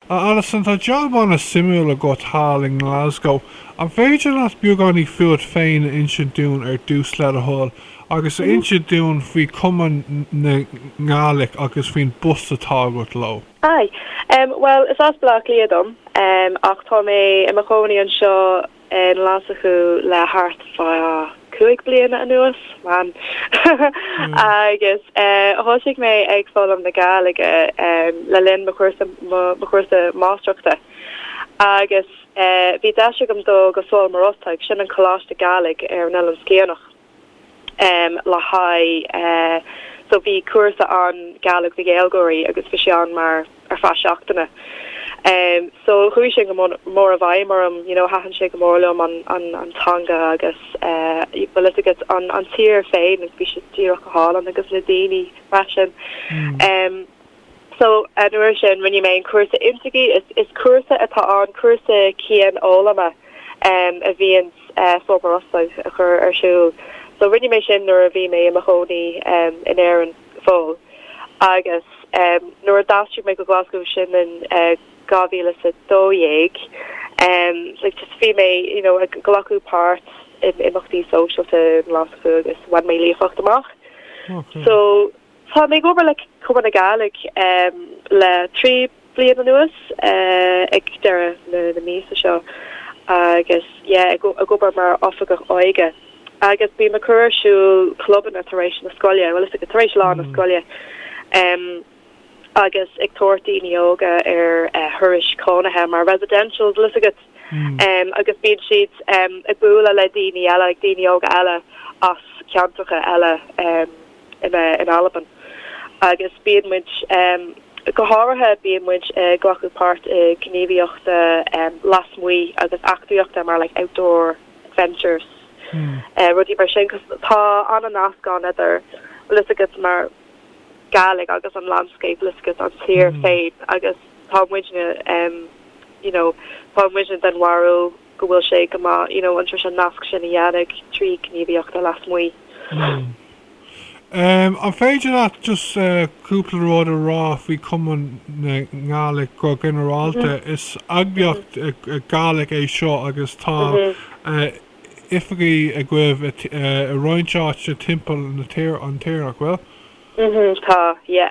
A Alison, tá jab an-suimiúil agat thall i nGlaschú. An féidir leat beagáinín fúat féin a insint dúinn ar dtús le do thoil, agus a insint dúinn faoi Chomunn na Gàidhlig agus faoin bpost atá agat leo? Aidh. Bhuel, is as Baile Átha Cliath dom, ach tá mé i mo chónaí anseo. i nGlaschú le thart fá cúig bliana anuas, em, agus thoisigh mé ag foghlaim na Gàidhlige le linn mo chúrsa mo chúrsa máistreachta agus bhí deis agam dul go Sabhal Mòr Ostaig, sin an coláiste Gàidhlig ar an Oileán Sciathanach. em le haghaidh eh so bhí cúrsa ann Gàidhlig do Ghaeilgeoirí agus bhí sé ann mar ar feadh seachtaine em so chuaigh sé go mór i bhfeidhm orm you know thaitin sé go mór liom an an an teanga agus eh bhfuil fhios agat an an tír féin agus bhí sé díreach go hálainn agus na daoine freisin em So, an uair sin, rinne mé an cúrsa Inntrigidh. Is cúrsa atá ann, cúrsa cianfhoghlama a bhíonn Sabhal Mòr Ostaig ag cur ar siúl. So, rinne mé sin nuair a bhí mé i mo chónaí in Éirinn fós. Agus nuair a d'aistrigh mé go Glaschú, sin in dhá mhíle is a dó dhéag, bhí mé you know ag glacadh páirt in imeachtaí sóisialta i nGlaschú agus bhain mé líofacht amach. So. Tá mé ag obair le Comunn na Gàidhlig le trí bliain anuas, ag deireadh na míosa seo agus yeah ag obair mar Oifigeach Óige agus bím ag cur ar siúl clubanna tar éis na scoile, bhfuil fhios agat tar éis lá na scoile em agus ag tabhairt daoine óga ar thurais cónaithe mar residentials bhfuil fhios agat em agus bíonn siad em ag bualadh le daoine eile, ag daoine óga eile as ceantracha eile. in Albain agus bíonn muid, go háirithe bíonn muid ag glacadh páirt i ngníomhaíochtaí lasmuigh agus eachtraíochta mar like outdoor adventures rudaí mar sin cos tá an-nasc ann idir bhfuil fhios agat mar Gàidhlig agus an landscape bhfuil fhios agat an tír féin agus tá muidne you know tá muidne den bharúil go bhfuil sé go maith you know an treis an nasc sin a dhéanamh trí gníomhaíochtaí lasmuigh. Umm. An féidir leat just cúpla rud a rá faoi Comunn na Gàidhlig go ginearálta? Is eagraíocht Ghàidhlig é seo agus tá oifigí agaibh i roinnt áiteanna timpeall na tíre nach bhfuil? Tá, yeah.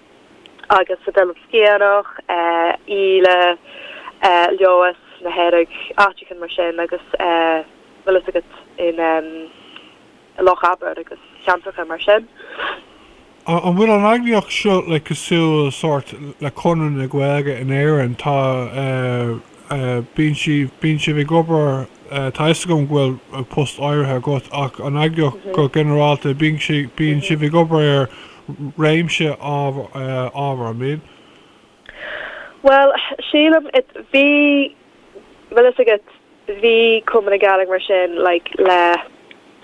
agus san Oileán Sciathanach, Íle, Leòdhas, na Hearadh, áiteachan mar sin agus bhfuil fhios agat in Loch Abar agus ceantracha mar sin. An bhfuil an eagraíocht seo le cosúil sórt le Conradh na Gaeilge in Éirinn? Tá bíonn sí bíonn sibh ag obair tá fhios agam go bhfuil post áirithe agat ach an eagraíocht go ginearálta bíonn sibh ag obair ar réimse ábhar, an mbíonn? Bhuel, sílim, it, bhí, bhfuil fhios agat, bhí Comunn na Gàidhlig mar sin, like, le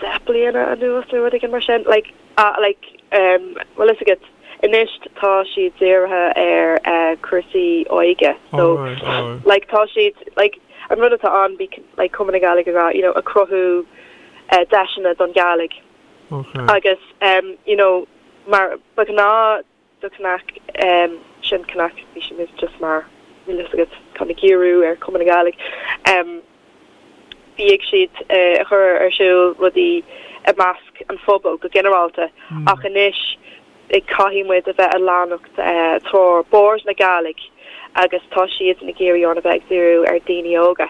deich bliana anuas nó rud éigin mar sin, like, ah, like, em, bhfuil fhios agat, anois tá siad dírithe ar, eh, cúrsaí óige, so, Alright, alright. like, tá siad, like, an rud atá ann, bhí, like, Comunn na Gàidhlig ag rá, you know, ag cruthú, eh, deiseanna don Ghàidhlig. Agus you know mar ba ghnáth do CnaG sin CnaG bhí sin just mar bhfuil a fhios agat cineál giorrú ar Comunn na Gàidhlig bhíodh siad a chur ar siúl rudaí i measc an phobail go ginearálta ach anois caithfidh muid a bheith ag leanacht treoir Bòrd na Gàidhlig agus tá siad ag iarraidh orainn a bheith ag díriú ar daoine óga.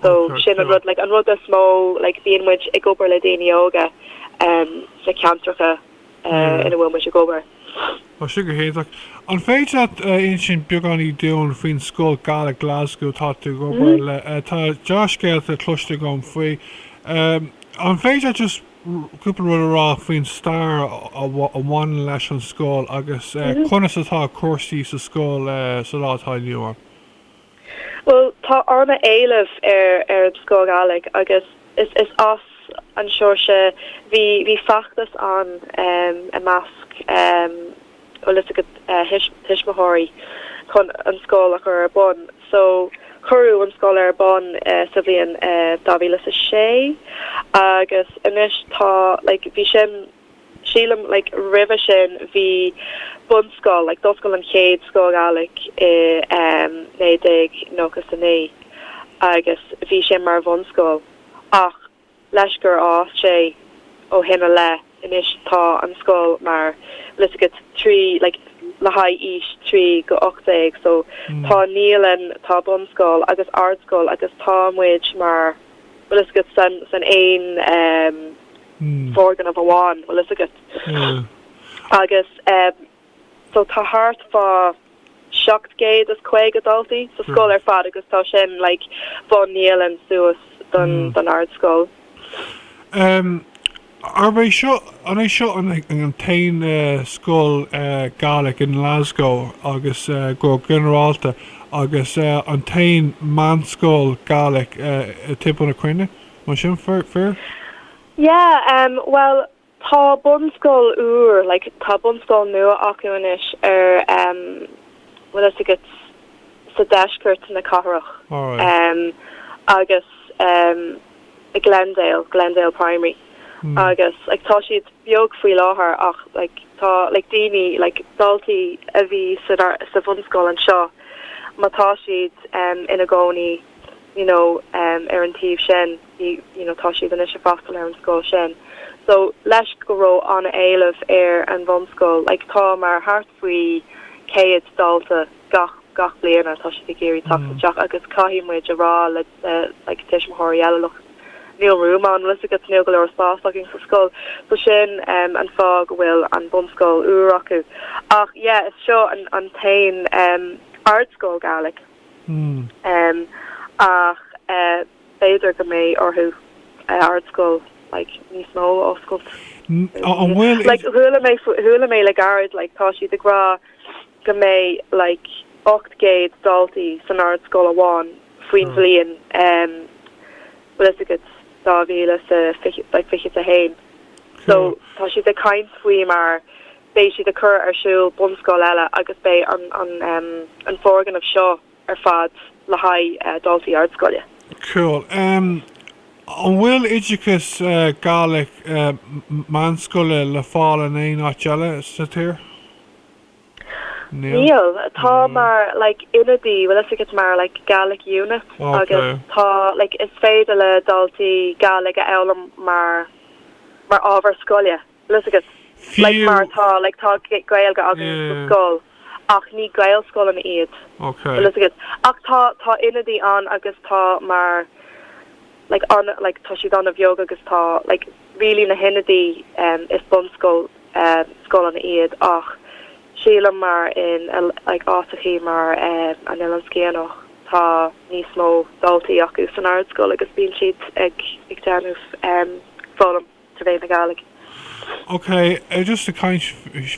So sin an rud, like an rud is mó, like bíonn muid ag obair le daoine óga sna ceantracha ina bhfuil muid ag obair. Tá sin go hiontach. An féidir leat a insint beagáinín dúinn faoin Scoil Ghàidhlig Glasgow atá tú ag obair le? Tá dea-scéalta cloiste agam faoi. An féidir leat just cúpla rud a rá faoin stair a bhaineann leis an scoil agus conas atá cúrsaí sa scoil sa lá atá inniu ann? Bhuel, tá an-éileamh ar an Scoil Ghàidhlig agus is as an sórt, bhí feachtas ann i measc, bhfuil fhios agat, thuismitheoirí chun an scoil a chur ar bun. So, cuireadh an scoil ar bun sa bhliain 2006 agus anois tá like bhí sin. sílim. Like roimhe sin bhí bunscoil, like d'oscail an chéad scoil Ghàidhlig i em 1999 agus bhí sé mar bhunscoil ach leis gur fhás sé ó shin i leith anois tá an scoil mar bhfuil fhios agat trí like le haghaidh aois trí go ocht déag so tá naíolann tá bunscoil agus ardscoil agus tá muid mar bhfuil fhios agat san san aon em foirgneamh amháin, bhfuil fhios agat. Agus eh so tá thart fá seacht gcéad is caoga daltaí sa scoil ar fad agus tá sin like ón naíolann suas don don ardscoil. Em, arb é seo, an é seo an an t-aon eh scoil eh Gaelic in Glasgow agus eh go ginearálta agus eh an t-aon meánscoil Gaelic eh i timpeall na cruinne? Mar sin, fíor? Yeah, em, bhuel, tá bunscoil úr, like, tá bunscoil nua acu anois ar, em, bhfuil fhios agat, sa deisceart na cathrach. Alright. Em, agus, em, i Glendale, Glendale Primary. Mm. Agus, like, tá siad beag faoi láthair ach, like, tá, like, daoine, like, daltaí a bhí san, sa bhunscoil anseo, má tá siad, em, ina gcónaí you know, ar an taobh sin, you know, tá siad anois ag freastal ar an scoil sin. So, toisc go raibh an-éileamh ar an bhunscoil, like tá mar thart faoi 100 dalta gach, gach bliain atá siad ag iarraidh teacht isteach agus caithfidh muid a rá le, le, like tuismitheoirí eile, look, níl room ann, bhfios agat, níl go leor spás againn sa scoil. So sin an fáth go bhfuil an bunscoil úr acu. Ach yeah, is seo an, an t-aon, um, ardscoil Gàidhlig Ach b'fhéidir go mbeidh orthu ardscoil like níos mó a oscailt. Like chuala mé chuala mé le gairid like tá siad ag rá go mbeidh like 800 daltaí san ardscoil amháin faoin bhliain um bhfuil fhios agat dhá mhíle is a fiche like fiche a haon so tá siad ag caint faoi mar beidh siad ag cur ar siúl bunscoil eile agus beidh an foirgneamh seo ar fad le haghaidh daltaí ardscoile. Cool. An bhfuil oideachas Gaelic meánscoile le fáil in aon áit eile sa tír? Níl. Níl. Tá mar, like, ionaid, bhfuil fhios agat, mar, like, Gaelic unit agus tá, like, is féidir le daltaí Gaelic a fhoghlaim mar, mar ábhar scoile. bhfuil fhios agat, like, mar atá, like, tá Gaeilge againn sa scoil ach ní Gaelscoileanna iad, tá fhios agat, ach tá, tá ionadaí ann agus tá mar, like, an, like, tá siad an-bheag agus tá, like, really na hionadaí, em, is bunscoil, em, scoileanna iad ach sílim mar in, like, áiteachaí mar, em, an Oileán Sciathanach tá níos mó daltaí acu san ardscoil agus bíonn siad ag, ag déanamh, em, foghlaim. trí mheán na Gàidhlig. Ok, just ag caint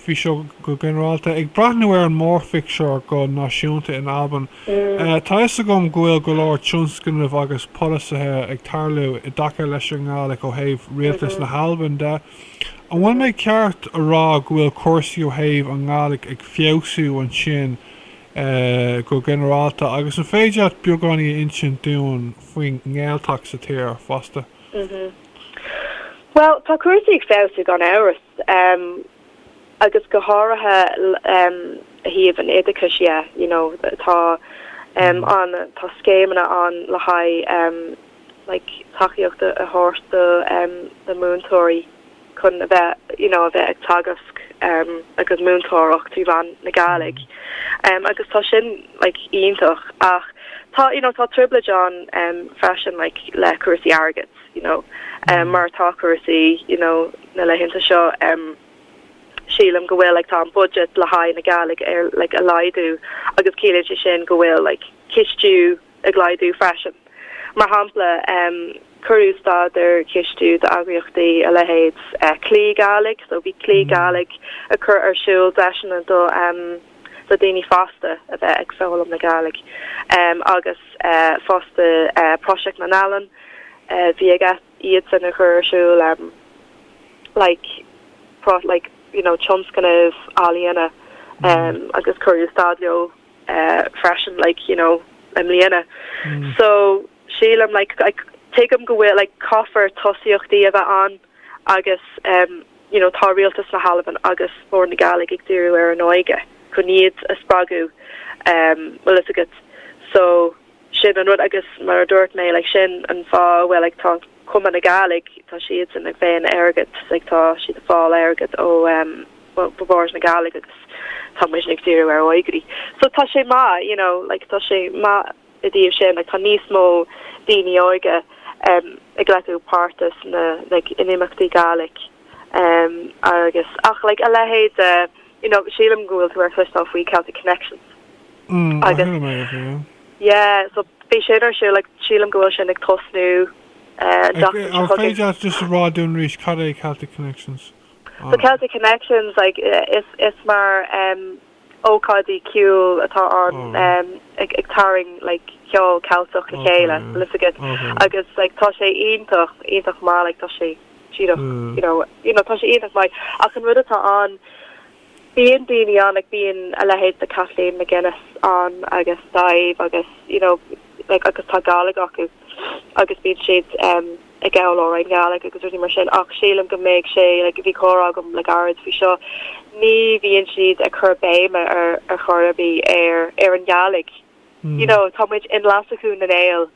faoi seo go ginearálta, ag breathnú ar an mórphictiúr go náisiúnta in Albain, tá 'fhios agam go bhfuil go leor tionscnamh agus polasaithe ag tarlú i dtaca leis an nGàidhlig ó thaobh Rialtas na hAlban de. An bhfuil mé ceart a rá go bhfuil cúrsaí ó thaobh an nGàidhlig ag feabhsú ansin go ginearálta? Agus an féidir leat beagáinín a insint dúinn faoin nGaeltacht sa tír fosta? Bhuel, tá cúrsaí ag feabhsú gan amhras, agus go háirithe a thaobh an oideachais dhe, you know, tá an, tá scéimeanna ann le haghaidh like tacaíocht a thabhairt do na múinteoirí chun a bheith, you know, a bheith ag teagasc agus múinteoireacht trí mheán na Gàidhlig agus tá sin, like, iontach ach tá you know tá trioblóid ann em freisin like le cúrsaí airgid you know em mar tá cúrsaí you know na laethanta seo em sílim go bhfuil like tá an budget le haghaidh na Gàidhlig ar like a laghdú agus ciallaíonn sé sin go bhfuil like cistiú ag laghdú freisin mar shampla em cuireadh stad ar cistiú d'eagraíochtaí a leithéid eh, Clì Gàidhlig so bhí Clì Gàidhlig a chur ar siúl deiseanna do em le daoine fásta a bheith ag foghlaim na Gàidhlig agus fosta Pròiseact nan Ealan bhí ag iadsan a chur ar siúl like pro like you know tionscnamh ealaíona agus cuireadh stad leo freisin like you know i mbliana so sílim like tuigim go bhfuil like caithfear tosaíochtaí a bheith ann agus you know tá Rialtas na hAlban agus Bòrd na Gàidhlig ag díriú ar an óige chun iad a spreagadh bhfuil fhios agat so sin an rud agus mar a dúirt mé like sin an fáth a bhfuil like tá Comunn na Gàidhlig tá siadsan ag faighinn airgead like tá siad a fáil airgead ó um, Bòrd na Gàidhlig agus tá muid ag díriú ar òigridh so tá sé maith you know like tá sé maith I dtaobh sin, tá níos mó daoine óige ag glacadh páirt sna n-imeachtaí Gàidhlig agus ach like a leithéid de, you know, sílim go bhfuil tú ar chloisteáil faoi Celtic Connections agus, yeah, so bhí sin ar siúl ag, sílim go bhfuil sin ag tosnú an tseachtain seo chugainn. Féidir leat just a rá dúinn arís cad é Celtic Connections? So Celtic Connections, like, is mar ócáidí ceoil atá ann ag tarraing like ceol Ceilteach le chéile bhfuil fhios agat agus like tá sé iontach iontach maith like tá sé díreach you know you know tá sé iontach maith ach an rud atá ann bíonn daoine ann like bíonn a leithéid de Kathleen MacInnes ann agus Dàimh agus you know like agus tá Gàidhlig acu agus bíonn siad um ag gabháil amhráin Ghàidhlig agus rudaí mar sin ach sílim go mbeidh sé, like, bhí comhrá agam le gairid faoi seo, ní bhíonn siad ag cur béime ar ar chor ar bith ar ar an Ghàidhlig. You know, tá muid i nGlaschú na nGael,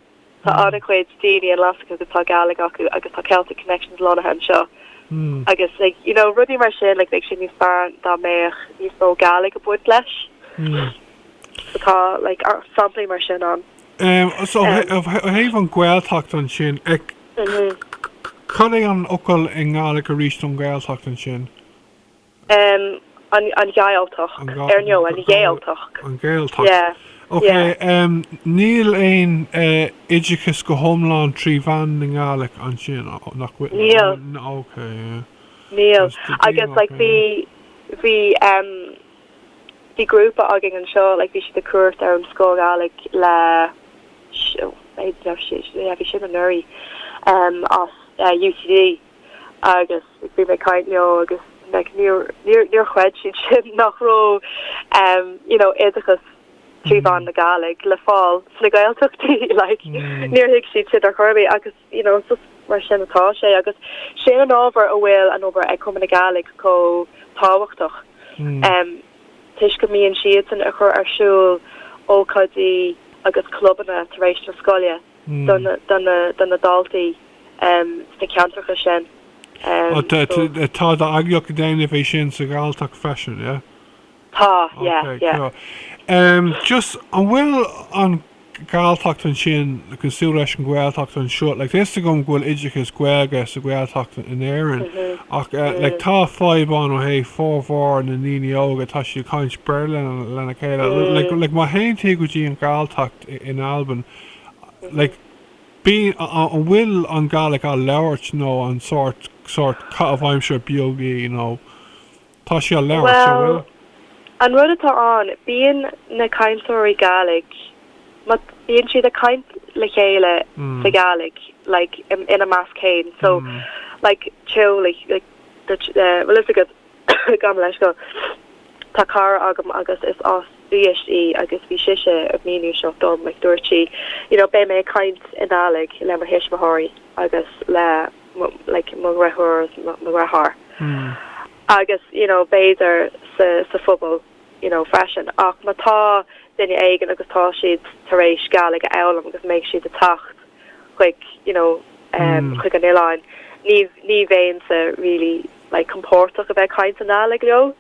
tá an-chuid daoine i nGlaschú agus tá Gàidhlig acu agus tá Celtic Connections lonnaithe anseo agus like, you know, rudaí mar sin, like, bheadh sé níos fearr dá mbeadh níos mó Gàidhlig ag baint leis. So tá, like, samplaí mar sin ann. Ehm, so ó thaobh an Gaeltacht ansin, cad é an fhocal i nGàidhlig aríst don Ghaeltacht ansin? Ehm, an, an Ghàidhealtachd, ar ndóigh, an Ghàidhealtachd. An Ghàidhealtachd. Yeah. Ok, ehm, níl aon eh oideachas go hiomlán trí mheán na nGàidhlig ansin, nach bhfuil? Níl. Ok, yeah. Níl. Agus like bhí, bhí ehm. bhí grúpa againn anseo like bhí siad ag cuairt ar an scoil Ghàidhlig le yeah bhí sin anuraidh em as eh UCD agus bhí mé ag caint leo agus like níor níor níor chreid siad sin nach raibh em you know oideachas trí mheán na Gàidhlig le fáil sna Gaeltachtaí like níor thuig siad sin ar chor ar bith agus you know, so is mar sin atá sé agus sin an ábhar a bhfuil an obair ag Cumann na Gàidhlig chomh tábhachtach em toisc go mbíonn siadsan a chur ar siúl ócáidí agus clubanna tar éis na scoile do na do na do na daltaí em sna ceantracha sin em so. Tá d'eagraíocht ag déanamh é sin sa Ghàidhealtachd freisin, yeah? Tá, yeah, Okay, yeah. cool. Em, just, an bhfuil an Gàidhealtachd ansin cosúil leis an Ghaeltacht anseo? Like, tá fhios agam go bhfuil oideachas Gaeilge sa Ghaeltacht in Éirinn, ach eh, like, tá fadhb ann ó thaobh formhór na ndaoine óga, tá siad ag caint Béarla lena lena chéile. L- Like, like, má théann tú go dtí an Gàidhealtachd i- in Albain, like, bíonn, a- a- an bhfuil an Gàidhlig á labhairt nó an sórt, sórt, caitheamh aimsire beag í, you know? Tá sé á labhairt, an bhfuil? Bhuel, an rud atá ann, bíonn na cainteoirí Gàidhlig, ma, bíonn siad ag caint le chéile sa Ghàidhlig, like, ina measc fhéin, so, like, teaghlaigh, bhfuil fhios agat, gabh mo leithscéal, tá cara agam agus is as Uibhist í agus bhí sise ag míniú seo dom, like, dúirt sí, you know, beidh mé ag caint i nGàidhlig le mo thuismitheoirí agus le. mo, like, mo dheirfiúr is mo, mo dheartháir. Agus, you know, b'fhéidir sa, sa phobal, you know, freisin. Ach má tá duine éigin agus tá siad tar éis Gàidhlig a fhoghlaim agus mbeidh siad ag teacht chuig, you know, eh, chuig an oileáin, ní, ní bheinnse really, like, compordach a bheith ag caint i nGàidhlig leo.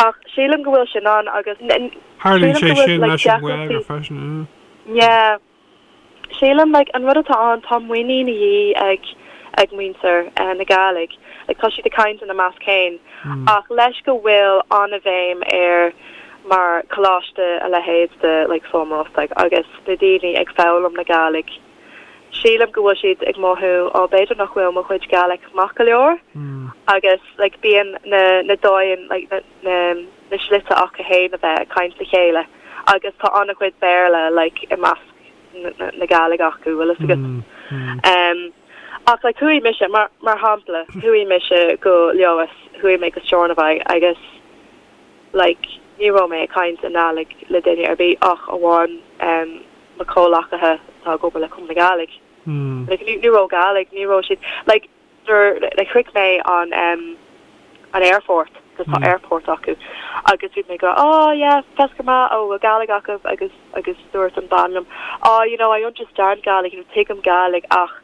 Ach sílim go bhfuil sin ann agus, n, n, sílim go bhfuil, like, deacrachtaí. Yeah. Sílim, like, an rud atá ann, tá muinín a dhíth ag ag muintir na Gàidhlig, like, tá siad ag caint ina measc féin, ach leis go bhfuil an-bhéim ar mar coláiste a leithéid de, like, Sabhal Mòr Ostaig agus na daoine ag foghlaim na Gàidhlig, sílim go bhfuil siad ag mothú, oh, b'fhéidir nach bhfuil mo chuid Gàidhlig maith go leor, agus, like, bíonn na na dóigheanna, like, na. na na slite aca fhéin a bheith ag caint le chéile agus tá an-chuid Béarla like i measc na na na Gàidhlig acu bhfuil fhios agat em ach like chuaigh mise mar mar shampla chuaigh mise go Leodhas chuaigh mé go Steòrnabhagh agus like ní raibh mé ag caint i nGàidhlig le duine ar bith ach amháin em mo chomhleacaithe atá ag obair le Comunn na Gàidhlig like ní ní raibh Gàidhlig ní raibh siad like Nuair like shroich mé an em an aerfort cos tá airport acu agus bhí mé ag gabháil oh yeah feasgar math a bheil Gàidhlig agaibh agus agus dúirt an bean liom oh you know I understand Gàidhlig you know tuigim Gàidhlig ach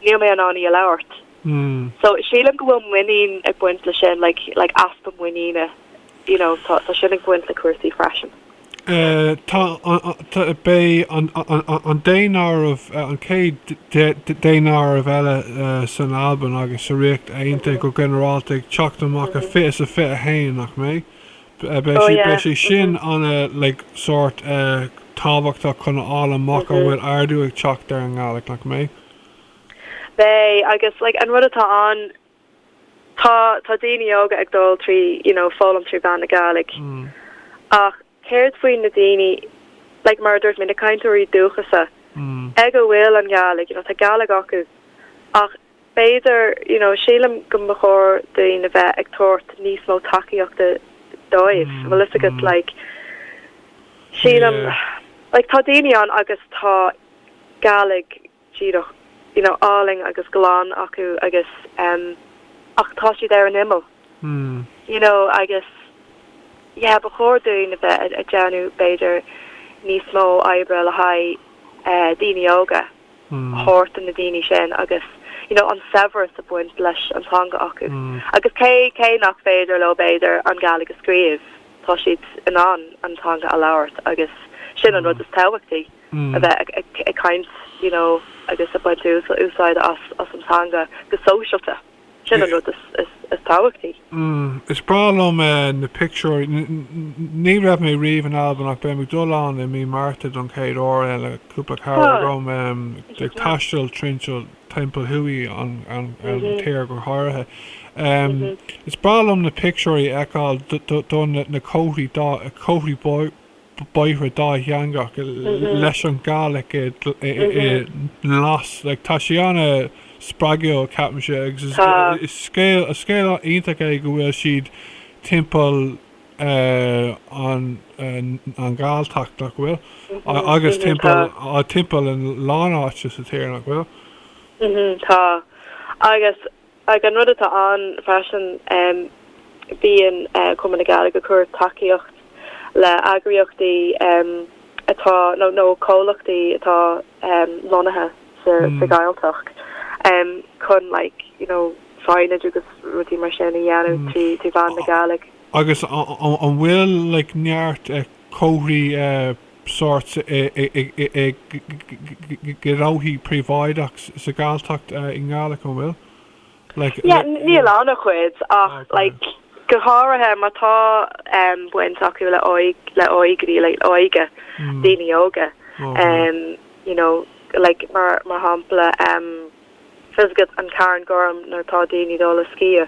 níl mé in ann í a labhairt. So sílim go bhfuil muinín ag baint le sin like like easpa muiníne you know so sílim go bhfuil sin ag baint le cúrsaí freisin. Tá an, beidh an daonáireamh, an chéad daonáireamh eile san Albain agus sa Ríocht Aontaithe go ginearálta ag teacht amach i fiche is a fiche a haon, nach mbeidh? Beidh sé, beidh sé sin an like sórt tábhachtach chun a fháil amach an bhfuil ardú ag teacht ar an nGàidhlig, nach mbeidh? Beidh, agus like an rud atá ann, tá tá daoine óga ag dul trí you know foghlaim trí mhean na Gàidhlig ach céard faoin na daoine like mar a dúirt mé na cainteoirí dúchasacha ag a bhfuil an Gàidhlig you know tá Gàidhlig acu ach b'fhéidir you know sílim go mba chóir dúinn a bheith ag tabhairt níos mó tacaíochta dóibh mm, bhfuil fhios agat mm. like sílim yeah. like tá daoine ann agus tá Gàidhlig díreach you know álainn agus glan acu agus em ach tá siad ar an imeall you know agus yeah ba chóir dúinn a bheith ag déanamh b'fhéidir níos mó oibre le haghaidh eh daoine óga a thabhairt do na daoine sin agus you know an saibhreas ag baint leis an teanga acu agus cé cé nach féidir leo b'fhéidir an Gàidhlig a scríobh tá siad in ann an teanga a labhairt agus sin an rud is tábhachtaí. a bheith ag caint you know agus ag baint úsáide as an teanga go sóisialta. Sin an rud is tábhachtaí. Is breá liom na pictiúirí. Ní raibh mé riamh in Albain ach beidh mé ag dul ann i mí Márta don chéad uair le cúpla cara dom ag taisteal trinseall timpeall tríd an tír go háirithe. Is breá liom na pictiúirí a fheiceáil do na comharthaí comharthaí bóithre dátheangach leis an Gàidhlig i nGlas. Tá sé ana spreagúil ceapaimse agus is scéal iontach é go bhfuil siad timpeall an Ghàidhealtachd nach bhfuil? Agus timpeall a lán áite sa tír nach bhfuil? Tá. Agus Ach an rud atá ann freisin, bíonn Comunn na Gàidhlig ag cur tacaíocht le eagraíochtaí atá, nó comhlachtaí atá lonnaithe sa Ghàidhealtachd chun like, you know, signage agus rudaí mar sin a dhéanamh trí mheán na Gàidhlig. Agus an bhfuil like neart comharthaí. sórt gnóthaí príobháideach sa Ghàidhealtachd i nGàidhlig, an bhfuil? Like, Yeah, níl an-chuid ach like go háirithe má tá baint acu le le òigridh, like óige, daoine óga, you know, like mar mar shampla fhios agat an Carn Gorm nuair atá daoine dul ag sciáil.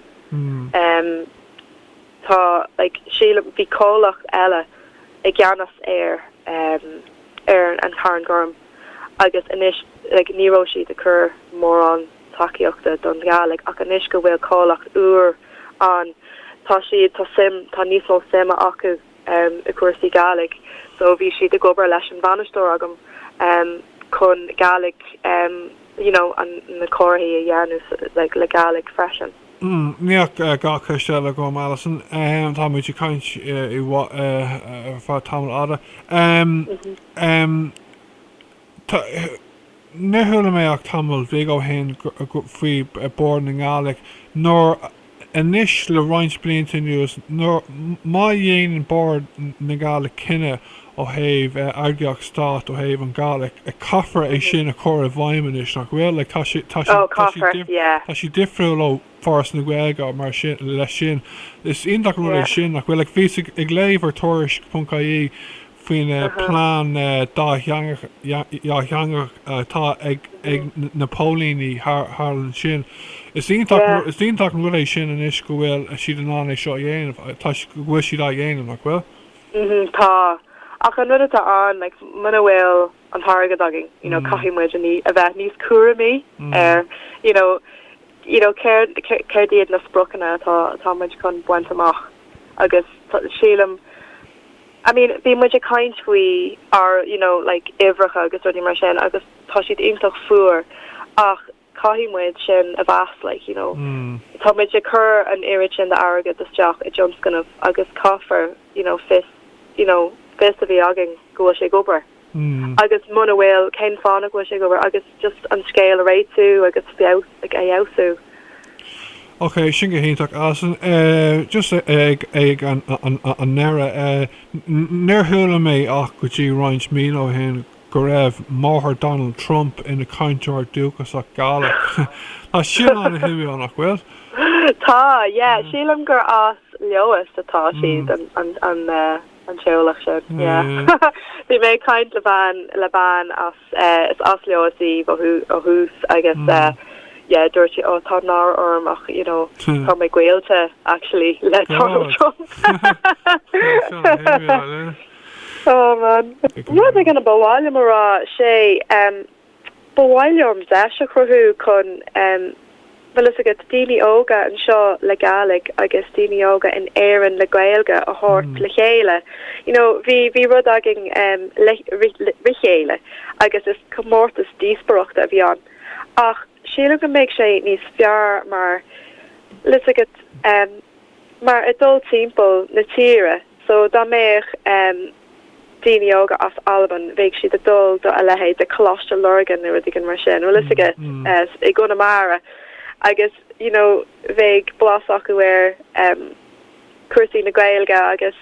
Tá, like, sílim, bhí comhlacht eile i gceannas ar, ar an Charn Gorm agus anois, like, ní raibh siad ag cur mórán tacaíochta don Ghàidhlig, ach anois go bhfuil comhlacht úr ann, tá siad, tá suim, tá níos mó suime acu i gcúrsaí Gàidhlig so bhí siad ag obair leis an bhainisteoir agam chun Gàidhlig, you know, an, na comharthaí a dhéanamh, like, le Gàidhlig freisin. Hum, níl ach dhá cheist eile agam, Alison. Tá muid ag caint ar feadh tamaill fhada. Níor chuala mé ach tamall beag ó shin faoi Bord na nGàidhlig, nuair anois le roinnt blianta anuas nuair, má dhéanann Bord na nGàidhlig cinneadh ó thaobh eagraíocht Stáit, ó thaobh an Ghàidhlig, caithfear é sin a chur i bhfeidhm anois, nach bhfuil? Like tá sé, tá sé, tá sé, tá sé difriúil ó Foras na Gaeilge mar sin, leis sin. Is iontach an rud é sin, nach bhfuil? Like bhíos ag léamh ar Tuairisc.ie faoin plean dátheangach atá ag na póilíní thall ansin. Is iontach, is iontach an rud é sin anois go bhfuil siad in ann é seo a dhéanamh, go bhfuil siad á dhéanamh, nach bhfuil? mhm, tá, ach an rud atá ann, like, muna bhfuil an t-airgead againn, you know, caithfidh muid a ní, a bheith níos cúramaí ar, you know, you know, céard, céard iad na spriocanna atá, atá muid chun baint amach agus sílim, I mean, bhí muid ag caint faoi ár, you know, like, uimhreacha agus rudaí mar sin agus tá siad iontach fuar ach caithfidh muid sin a mheas like, you know, tá muid ag cur an oiread sin d'airgead isteach i dtionscnamh agus caithfear, you know, fios, you know, fios a bheith againn go bhfuil sé ag obair agus muna bhfuil, cén fáth nach bhfuil sé ag obair agus just an scéal a réitiú agus feabhas, like a fheabhsú. Ok, sin go hiontach Alison eh just ag ag an an an an ndeireadh eh níor chuala mé ach go dtí roinnt míonna ó shin go raibh máthair Donald Trump ina cainteoir dúchasach Gàidhlig. Tá sin an-shuimiúil, nach bhfuil? Tá, yeah. Sílim gur as Leodhas atá siad, an teaghlach sin, yeah. Bhí mé ag caint le bean, le bean as, is as Leodhas í ó thús agus yeah, dúirt sí, oh, tá náire orm ach you know, tá mé gaolta actually le Donald Trump. Rud éigin a ba mhaith liom a rá, sé, ba mhaith liom deis a chruthú chun, bhfuil fhios agat, daoine óga anseo le Gàidhlig agus daoine óga in Éirinn le Gaeilge a thabhairt le chéile. You know, bhí, bhí rud againn eh, Ri Chèile agus is comórtas díospóireachta a bhí ann ach sílim go mbeidh sé níos fearr mar, bhfuil fhios agat, mar ag dul timpeall na tíre so dá mbeadh ehm daoine óga as Albain bheadh siad ag dul do a leithéid de Coláiste Lurgan nó rud éigin mar sin bhfuil fhios agat ehm i gConamara agus you know bheadh blas acu ar ehm cúrsaí na Gaeilge agus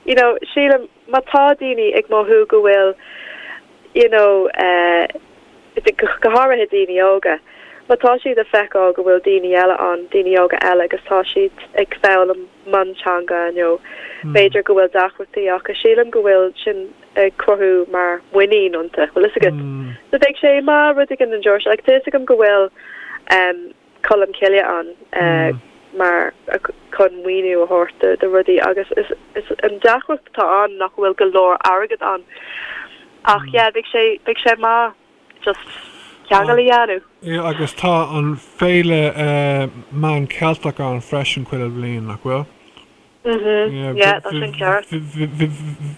you know sílim má tá daoine ag mothú go bhfuil you know eh go háirithe daoine óga. Má tá siad a' feiceáil go bhfuil daoine eile ann, daoine óga eile, agus tá siad ag foghlaim mionteanga nó b'fhéidir go bhfuil deacrachtaí acu, sílim go bhfuil sin ag cruthú mar muinín iontu, bhfuil fhios agat. So bheadh sé maith rud éigin den tseort seo, like tá fhios agam go bhfuil ehm, Colmcille ann mar chun maoiniú a thabhairt do rudaí agus is an deacracht atá ann nach bhfuil go leor airgead ann ach yeah bheadh sé bheadh sé maith just ceangal a dhéanamh. Yeah agus tá an Féile Meán Ceilteach ann freisin chuile bhliain, nach bhfuil? yeah, yeah, tá sin ceart.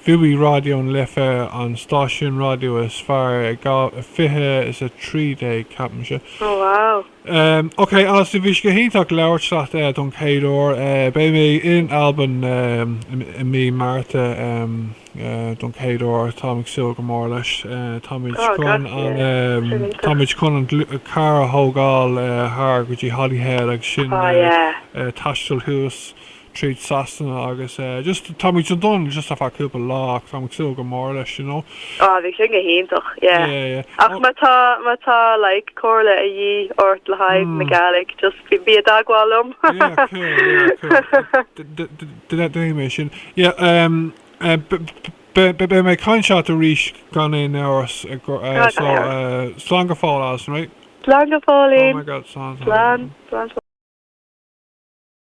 Bhuaigh Raidió na Life an stáisiún raidió is fearr i 20 is a 13 ceapaimse. Oh wow. Um, ok, Alison, bhí sé go hiontach labhairt leat uh, don céad uair. Uh, beidh mé in Albain um, i mí Márta um, uh, don céad uair táim ag súil go mór leis. Uh, táimid oh, chun an um, táimid chun an carr a thógáil uh, thar go dtí Holyhead agus sin oh, yeah. uh, uh, taisteal thuas. tríd Sasana agus just táimíd sa Dún just ar feadh cúpla lá ach táimíd ag súil go mór leis you know. Ah bhí sé go hiontach yeah. Yeah yeah. Ach má tá má tá like comhairle a dhíth ort le haghaidh na Gaelic just bí i dteagmháil liom. Yeah cool yeah cool déanfaidh mé sin yeah umm beidh mé ag caint leat arís gan aon amhras so slán go fóill Alison right. Slán go fóill Ian. Oh my God slán slán slán.